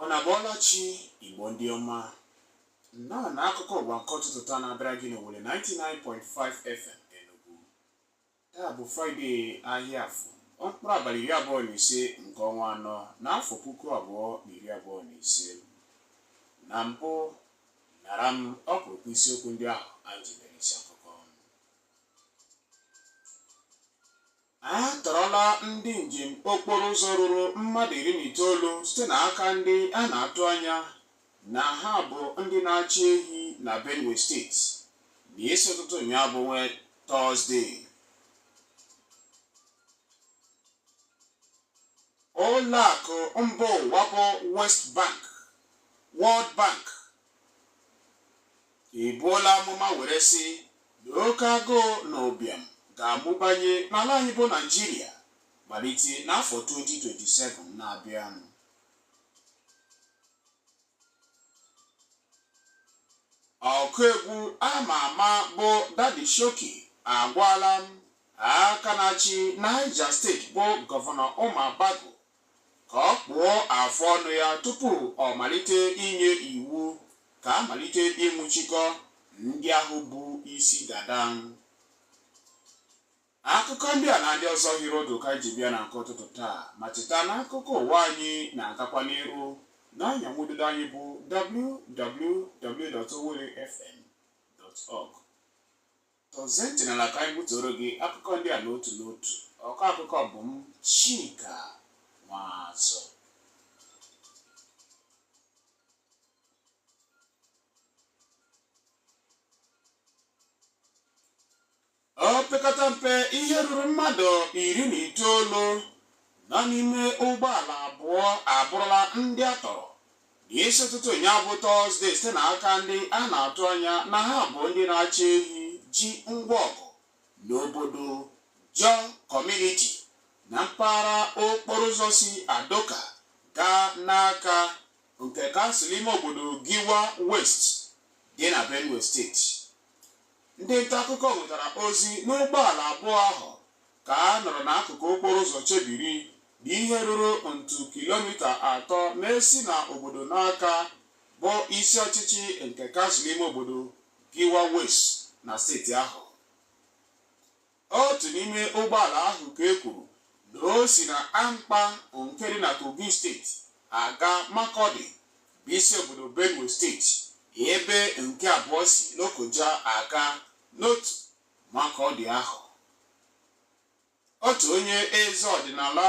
Ụnụ abọọla chi Igbo ndị ọma nnọọ na akụkọ ụwa nke ụtụtụ taa na-abịara gị n'Owelle 99.5 FM Enugu taa bụ Fraịde ahịa afọ mkpụrụ abalị iri abụọ na ise nke ọnwa anọ n'afọ puku abụọ na iri abụọ na ise na mbụ nara m ọkpụrụkpụ isiokwu ndị ahụ anyị ji mere isi akụkọ A tọrọla ndị njem okporo ụzọ ruru mmadụ iri na itoolu site n'aka ndị a na-atụ anya na ha bụ ndị na-achị ehi na Benue steeti n'isi ụtụtụ ụnyaahụ bụ We Tọzde. Ụlọakụ mba ụwa bụ West Bank, World Bank ebuola amụma were sị na oke agụụ na ụbịam ga-amụbanye n'ala anyị bụ Naịjirịa malite n'afọ 2027 na-abịanụ ọkụ egwu ama ama bụ Daddy Showkey agwala aka na-achị Niger steeti bụ gọvanọ Umar Bago ka ọ kpụọ afụ ọnụ ya tupu ọ malite inye iwu ka a malite ịnwụchikọ ndị ahụ bu isi dada. Akụkọ ndị a na ndị ọzọ hiri ụdụ ka anyị ji bịa na nke ụtụtụ taa ma cheta na akụkọ ụwa anyị na-agakwa n'iru n'ọnya nwa ududo anyị bụ www.owellefm.org Tọzie ntị n'ala ka anyị butuoro gị akụkọ ndị a n'otu n'otu. Ọkọ akụkọ bụ m Chika Nwazu. Opekata mpe ihe ruru mmadụ iri na itoolu Nọ n'ime ụgbọala abụọ abụrụla ndị a tọrọ n'isi ụtụtụ ụnyaahụ bụ Tọzdee site n'aka ndị a na-atụ anya na ha bụ ndị na-achị ehi ji ngwa ọgụ n'obodo Jor Kọmuniti na mpaghara okporo ụzọ si Adoka gaa Naka nke kansụl ime obodo Gwer West dị na Benue steeti. Ndị nta akụkọ nwetara ozi na ụgbọala abụọ ahụ ka a nọrọ n'akụkụ okporo ụzọ chebiri dị ihe ruru ntu kilomita atọ na-esi na obodo Naka bụ isi ọchịchị nke kansụl ime obodo Gwer West na steeti ahụ. Otu n'ime ụgbọala ahụ ka e kwuru na o si na Ankpa nke dị na Kogi steeti aga Makọdị bụ isi obodo Benue steeti ebe nke abụọ si Lokoja aga n'otu Makọdị ahụ. Otu onye eze ọdịnala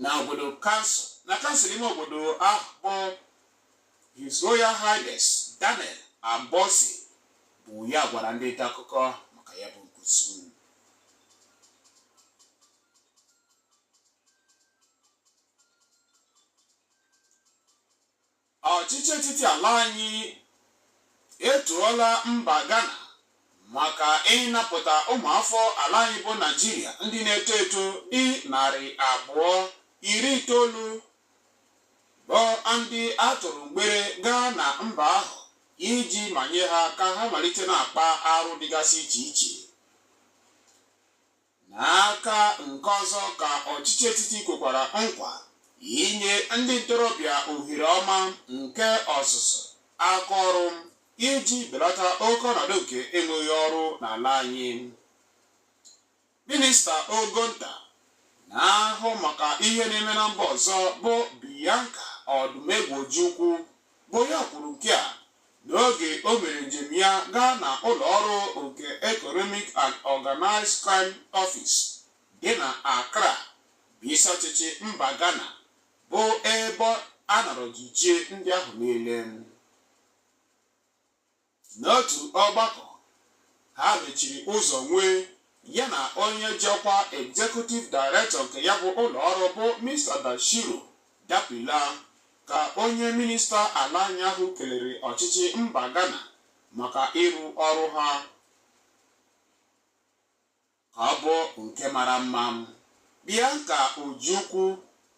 na obodo kansụl na kansụl ime obodo ahụ bụ His Royal Highness Daniel Abomtse bụ ya gwara ndị nta akụkọ maka ya bụ nkuzu ọchịchị etiti ala anyị etuola mba Ghana maka ịnapụta ụmụafọ ala anyị bụ Naịjirịa ndị na-eto eto dị narị abụọ iri itoolu bụ ndị a tụrụ mgbere gaa na mba ahụ iji manye ha ka ha malite na-akpa arụ dịgasị iche iche n'aka nke ọzọ ka ọchịchị etiti kwekwara nkwa inye ndị ntorobịa ohere ọma nke ọzụzụ aka ọrụ iji belata oke ọnọdụ nke enweghị ọrụ n'ala anyị Minista ogo nta na-ahụ maka ihe na-eme na mba ọzọ bụ Bianca Odumegwu Ojukwu bụ ya kwuru nke a n'oge o mere njem ya gaa na ụlọ ọrụ nke Economic and Organized Crime Office dị na Accra bụ isi ọchịchị mba Ghana bụ ebe a nọrọ jichie ndị ahụ niile. N'otu ọgbakọ ha mechiri ụzọ nwee ya na onye ji ọkwa Executive Director nke ya bụ ụlọọrụ bụ Mr. Bashiru Dapilah ka onye minista ala anyị ahụ kelere ọchịchị mba Ghana maka ịrụ ọrụ ha. ka ọ bụ nke mara mma. Bianca Ojukwu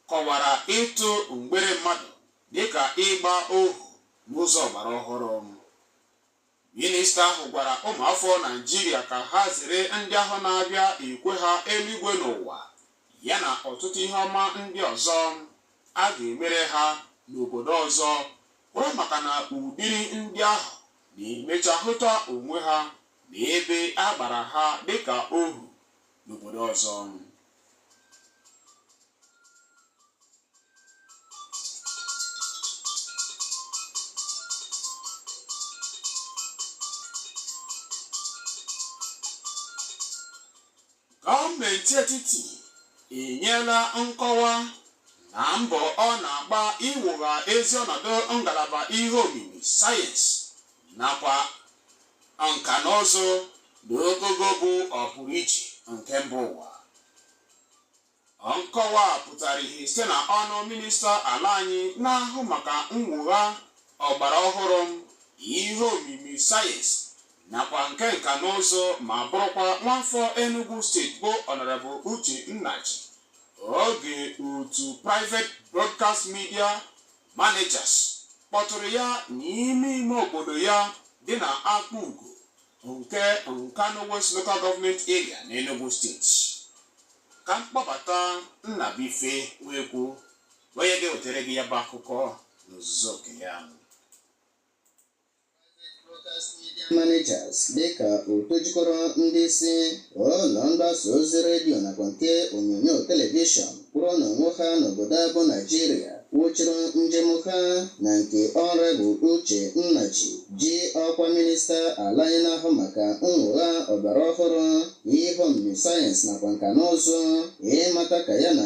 kọwara ịtụ mgbere mmadụ dịka ịgba ohu n'ụzọ ọgbara ọhụrụ. Minista ahụ gwara ụmụafọ Naịjirịa ka ha zere ndị ahụ na-abịa ekwe ha eluigwe n'ụwa ya na ọtụtụ ihe ọma ndị ọzọ a ga-emere ha n'obodo ọzọ kwụrụ maka na ụdịrị ndị ahụ na-emecha hụta onwe ha na ebe a gbara ha dịka ohu n'obodo ọzọ gọọmenti etiti enyela nkọwa na mbọ ọ na-agba iwugha ezi ọnọdụ ngalaba ihe omimi sayensị nakwa nka na ụzụ na ogogo bụ ọpụrụiche nke mba ụwa nkọwa a pụtara ihe site na ọnụ minista ala anyị na-ahụ maka mwogha ọgbara ọhụrụ ihe omimi sayensị nakwa nke nka na ụzụ ma bụrụkwa nwafọ Enugu steeti bụ Honorable Uche Nnaji oge otu Private Broadcast Media Managers kpọtụrụ ya n'ime ime obodo ya dị na Akpugo nke Nkanu West Local Government Area n'Enugu steeti ka m kpọbata Nnabuife Nwekwu onye ga-ewetara gị ya bụ akụkọ n'ozuzu oke ya managers dịka otu jikọrọ ndị isi ụlọ mgbasa ozi redio nakwa nke onyonyo telivishọn kwụrụ n'onwe ha n'obodo a bụ Naịjirịa wụchiri njem ha na nke Honorable Uche Nnaji ji ọkwa minista ala anyị na-ahụ maka mwogha ọgbara ọhụrụ ihe omimi sayensị nakwa nka na ụzụ ịmata ka ya na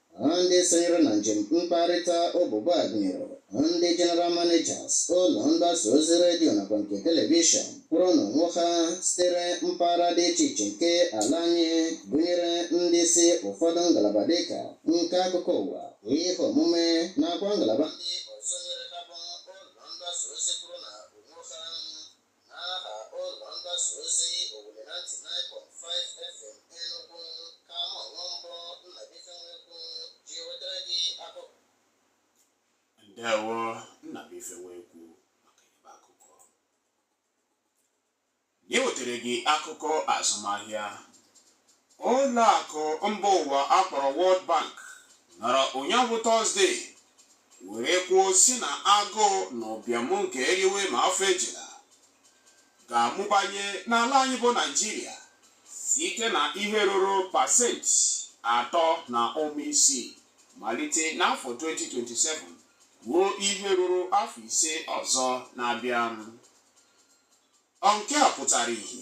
Ndị sonyere na njem mkparịta ụbụbọ a gụnyere ndị General Managers ụlọ mgbasa ozi redio nakwa nke telivishọn kwụrụ n'onwe ha sitere mpaghara dị iche iche nke ala anyị gụnyere ndị isi ụfọdụ ngalaba dịka nke akụkọ ụwa ihe omume nakwa ngalaba ndị ọzọ nyere ha bụ ụlọ mgbasa ozi kwụrụ na onwe ha N'aha ụlọ mgbasa ozi Owelle 99.5 FM Enugu ka mụ onwe m bụ Nnabuife Nwekwu ji wetara gị akụkọ ndewo Nnabuife Nwekwu maka ibe akụkọ anyị wetara gị akụkọ azụmahịa ụlọ akụ mba ụwa a kpọrọ World Bank nọrọ ụnyaahụ Tọzde were kwuo sị na agụụ na ụbịam nke eriwe ma afọ ejila ga-amụbanye n'ala anyị bụ Naijiria site na ihe ruru pasenti atọ na ụma isii malite n'afọ 2027 ruo ihe ruru afọ ise ọzọ na-abịa. Nke a pụtara ihe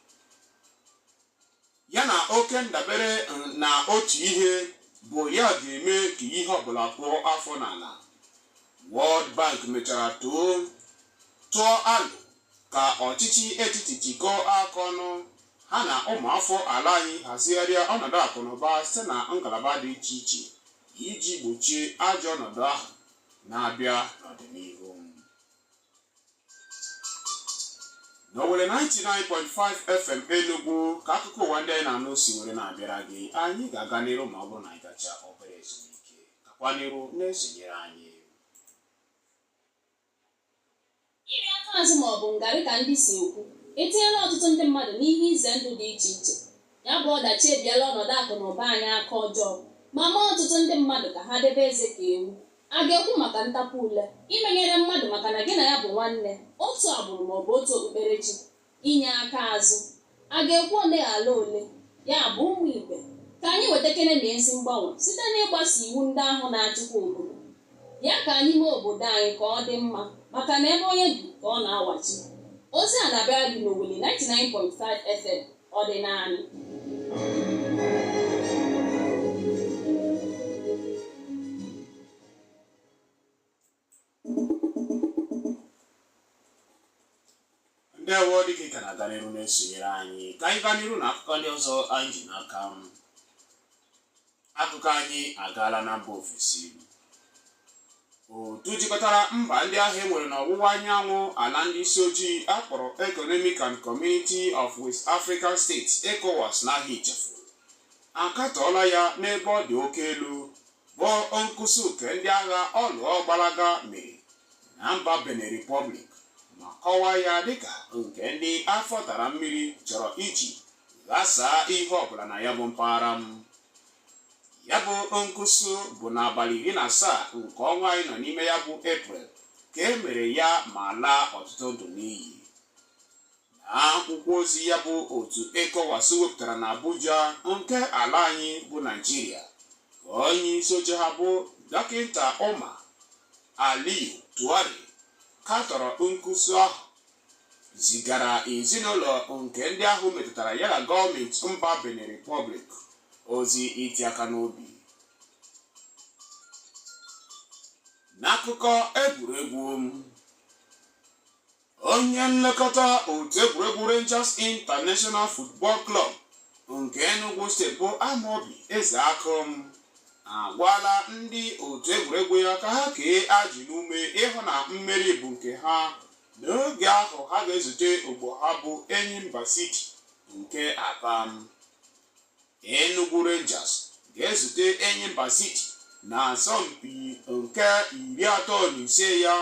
ya na oke ndabere na otu ihe bụ ya ga-eme ka ihe ọbụla kụọ afọ n'ala World Bank mechara too tụọ alo ka ọchịchị etiti jikọọ aka ọnụ ha na ụmụafọ ala anyị hazigharịa ọnọdụ akụnụba site na ngalaba dị iche iche iji gbochie ajọ ọnọdụ ahụ na-abịa n'ọdịnihu n'Owelle 99.5 FM Enugu ka akụkọ ụwa ndị a ị na-anụ si were na-abịara gị anyị ga-aga n'iru ma ọ bụrụ na anyị gacha obere ezumike gakwa n'iru na-esonyere anyị iri aka azụ ma ọ bụ ngarị ka ndị si ekwu etinyela ọtụtụ ndị mmadụ n'ihe ize ndụ dị iche iche ya bụ ọdachi ebiela ọnọdụ akụ na ụba anyị aka ọjọọ ma mee ọtụtụ ndị mmadụ ka ha debe eze ka ewu A ga-ekwu maka ntapu ule, imenyere mmadụ maka na gị na ya bụ nwanne, otu agbụrụ ma ọ bụ otu okpukperechi, inye aka azụ. A ga-ekwu ole ghara ole, ya bụ ụmụ ibe, ka anyị wetakene na ezi mgbanwe site n'ịgbaso iwu ndị ahụ na-achịkwa obodo. Ya ka anyị mee obodo anyị ka ọ dị mma maka na ebe onye bi ka ọ na-awachi. Ozi a na-abịara gị n'Owelle 99.5 FM. ọdịnanị ndewo dịka ị ka na-aga n'iru na-esonyere anyị ka anyị gaa n'iru na akụkọ ndị ọzọ anyị ji n'aka Akụkọ anyị agaala na mba ofesi. Otu jikọtara mba ndị ahụ e nwere n'ọwụwa anyanwụ ala ndị isi ojii akpọrọ Economic and Community of West African States ECOWAS n'aha ịchafụ akatọọla ya n'ebe ọ dị oke elu bụ nkusu nke ndị agha ọlụọ ọgbalaga mere na mba Benin Republic ma kọwaa ya dịka nke ndị afọ tara mmiri chọrọ iji ghasaa ihe ọbụla na ya bụ mpaghara ya bụ nkusu bụ n'abalị iri na asaa nke ọnwa anyị nọ n'ime ya bụ eprel ka e mere ya ma laa ọtụtụ ndụ n'iyi n'akwụkwọ ozi ya bụ otu ECOWAS wepụtara na Abuja nke ala anyị bụ Naịjirịa ka onye isi oche ha bụ dọkịta Omar Alieu Touray katọrọ nkusu ahụ zigara ezinụlọ nke ndị ahụ metụtara ya na gọọmenti mba Benin Republic ozi iti aka n'obi n'akụkọ egwuregwu onye nlekọta otu egwuregwu Rangers International Football Club nke Enugu steeti bụ Amobi Ezeakụ agwala ndị otu egwuregwu ya ka ha kee ajị n'ume ịhụ na mmeri bụ nke ha N'oge ahụ ha ga-ezute ogbo ha bụ Enyimba City nke Aba. Enugu Rangers ga-ezute Enyimba City na asọmpi nke iri atọ na ise ya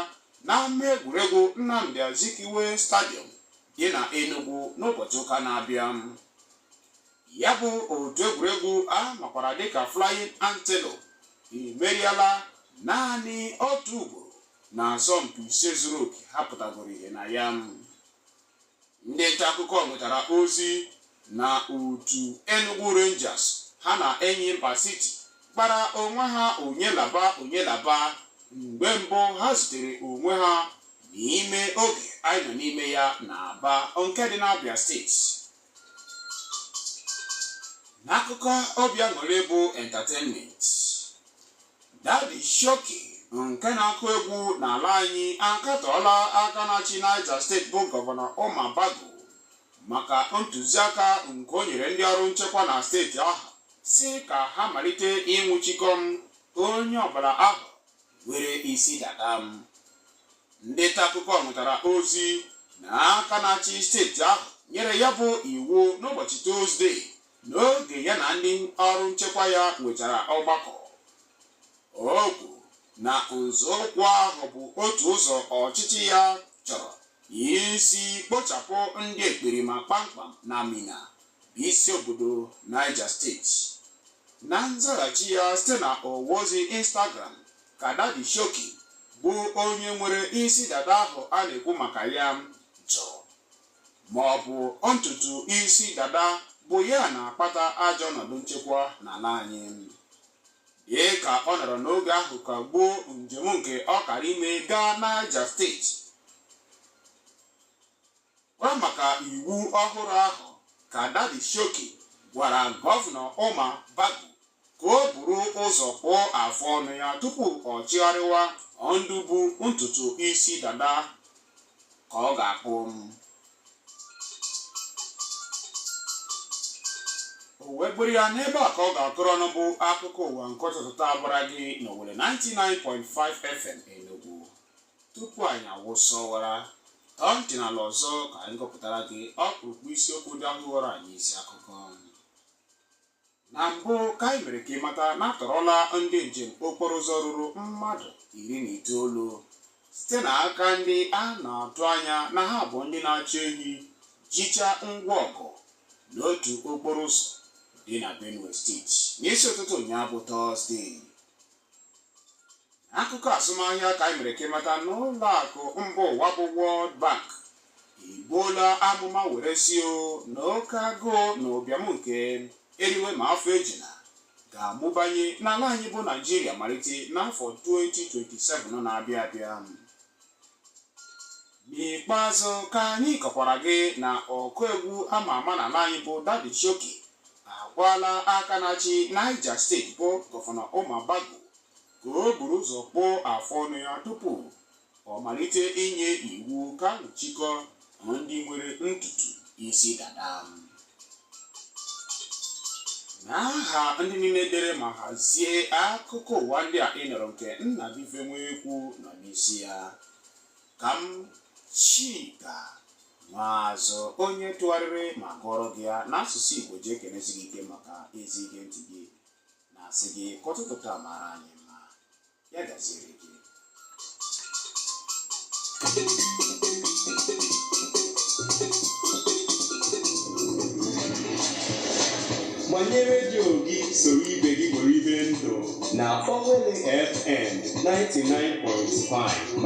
n'ama egwuregwu Nnamdi Azikiwe Stadium dị na Enugu n'ụbọchị ụka na-abịa. Ya bụ otu egwuregwu a makwara dịka Flying Antelope emeriela naanị otu ugboro na asọmpi ise zuru oke ha pụtagoro ihe na ya ndị nta akụkọ nwetara ozi na otu Enugu Rangers ha na Enyimba City kpara onwe ha onye laba onye laba mgbe mbụ ha zutere onwe ha n'ime oge anyị nọ n'ime ya na Aba nke dị n'Abia steeti n'akụkọ obi aṅụrị bụ entertainment Daddy Showkey nke na-akụ egwu n'ala anyị akatọọla aka na-achị Niger steeti bụ gọvanọ Umar Bago maka ntụziaka nke o nyere ndị ọrụ nchekwa na steeti ahụ sị ka ha malite ịnwụchikọ onye ọbụla ahụ nwere isi dada ndị nta akụkọ nwetara ozi na aka na-achị steeti ahụ nyere ya bụ iwu n'ụbọchị tuzdee n'oge ya na ndị ọrụ nchekwa ya nwechara ọgbakọ o kwuru na nzọụkwụ ahụ bụ otu ụzọ ọchịchị ya chọrọ isi kpochapụ ndị ekperima kpamkpam na Minna bụ isi obodo Niger steeti na nzaghachi ya site na ọwa ozi Instagram ka Daddy Showkey bụ onye nwere isi dada ahụ a na-ekwu maka ya ma ọ bụ ntutu isi dada bụ ya na-akpata ajọ ọnọdụ nchekwa n'ala anyị dị ka ọ nọrọ n'oge ahụ kagbuo njem nke ọ kara ime gaa Niger steeti gwa maka iwu ọhụrụ ahụ ka Daddy Showkey gwara gọvanọ Umar Bago ka o buru ụzọ kpụọ afụ ọnụ ya tupu ọ chọgharịwa ndị bu ntutu isi dada ka ọ ga-akpụ o wee bụrụ ya n'ebe a ka ọ ga-akụrụ ọnụ bụ akụkọ ụwa nke ụtụtụ taa bịara gị n'Owelle 99.5 FM Enugu tupu anyị awụsa ọwara tọọ ntị n'ala ọzọ ka anyị gụpụtara gị ọkpụrụkpụ isiokwu ndị ahụ ghọrọ anyị isi akụkọ na mbụ ka anyị mere ka ị mata na a tọrọla ndị njem okporo ụzọ ruru mmadụ iri na itoolu site n'aka ndị a na-atụ anya na ha bụ ndị na-achị ehi jicha ngwa ọgụ n'otu okporo ụzọ dị na benue steeti n'isi ụtụtụ ụnyaahụ bụ tọzdee akụkọ azụmahịa ka anyị mere ka ị mata na ụlọ akụ mba ụwa bụ World Bank egbuola amụma were sị o na oke agụụ na ụbịam nke eriwe ma afọ ejuna ga-amụbanye n'ala anyị bụ Naijiria malite n'afọ 2027 na-abịa abịa n'ikpeazụ ka anyị kọkwara gị na ọkụ egwu ama ama n'ala anyị bụ Daddy Showkey agwaala aka na-achị Niger steeti bụ gọvanọ Umar Bago ka o buru ụzọ kpụọ afọ ọnụ ya tupu ọ malite inye iwu ka nwụchikọ ndị nwere ntutu isi dada n'aha ndị niile dere ma hazie akụkọ ụwa ndị a ị nụrụ nke Nnabife Nwekwu nọ n'isi ya ka m Chika Nwazu onye tụgharịrị ma gụọrọ gị ya n'asụsụ igbo ji ekenesi gị ike maka ezi ige ntị gị na-asị gị ka ụtụtụ taa mara anyị Ya gaziere gị. gbanye redio gị soro ibe gị nwere ibe ndụ na Owelle FM 99.5